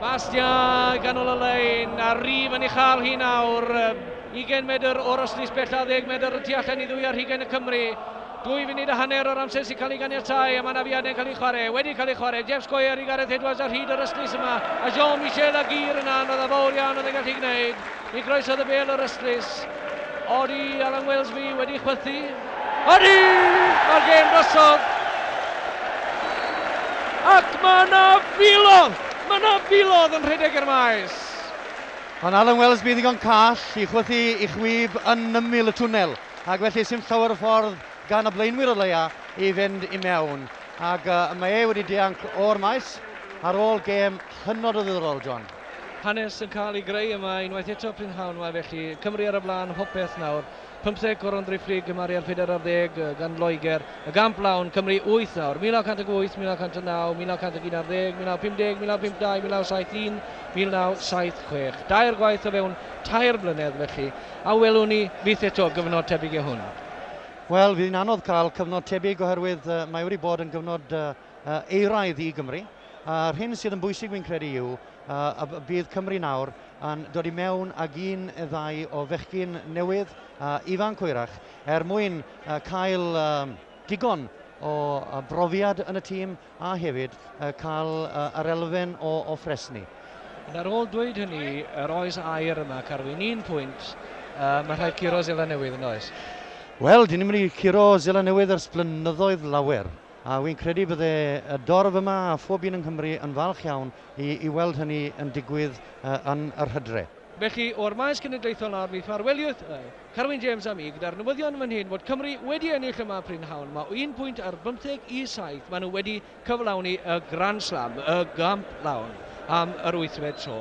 Bastia ganol y lein, a rif yn ei chael hi nawr. 20 medr o'r ystlys bellaf, 10 medr y tu allan i ddwy ar hugain y Cymry. Dwy funud a hanner o'r amser sy'n cael ei ganiatau a mae yna fiadau'n cael ei chwarae, wedi cael ei chwarae, Jeff Squire i Gareth Edwards ar hyd yr ystlys yma, a Jean-Michel Aguirre yna, anodd a fawr iawn oedd e'n gallu gwneud. I groesawu y bêl o'r ystlys, Odi Alan Welsby wedi chwythu. Odi! Mae'r gêm drosodd! Ac mae yna filodd! Mae yna filodd yn rhedeg i'r maes! Ond Alan Welsby yn ddigon call i chwythu i chwib yn ymyl y twnnel, ac felly sy'm llawer o ffordd gan y blaenwyr o leia i fynd i mewn. Ac mae e wedi dianc o'r maes ar ôl gêm. Hynod o ddiddorol, John. Hanes yn cael ei greu yma unwaith eto prynhawn 'ma felly. Cymru ar y blaen hopeth nawr. Pymtheg Goron Driphlyg gymaru â'r phedair ar ddeg gan Loegr. Y gamp lawn, Cymru wyth nawr. 1908, 1909, 1911 ar ddeg, 1950, 1952, 1971, 1976. Dair gwaith o fewn tair blynedd felly. A welwn ni fyth eto gyfnod tebyg i hwn? Wel, fydd hi'n anodd cael cyfnod tebyg oherwydd mae wedi bod yn gyfnod euraidd i Gymru. A'r hyn sydd yn bwysig fi'n credu yw y bydd Cymru nawr yn dod i mewn ag un neu ddau o fechgyn newydd, ifanc hwyrach, er mwyn cael digon o brofiad yn y tîm a hefyd cael yr elfen o ffresni. Ond ar ôl dweud hynny, yr oes air yma, Carwyn? Un pwynt, mae rhaid curo Seland Newydd, yn does? Wel, dyn ni'n mynd i curo Seland Newydd ers blynyddoedd lawer. A wi'n credu bydde y dorf yma a phob un yng Nghymru yn falch iawn i i weld hynny yn digwydd yn yr hydre. Felly, o'r Maes Cenedlaethol nawr, mi ffarweliwth y. Carwyn James a mi, gyda'r newyddion fan hyn fod Cymru wedi ennill yma prynhawn. Mae o un pwynt ar bymtheg i saith. Maen nhw wedi cyflawni y Grand Slam, y gamp lawn, am yr wythfed tro.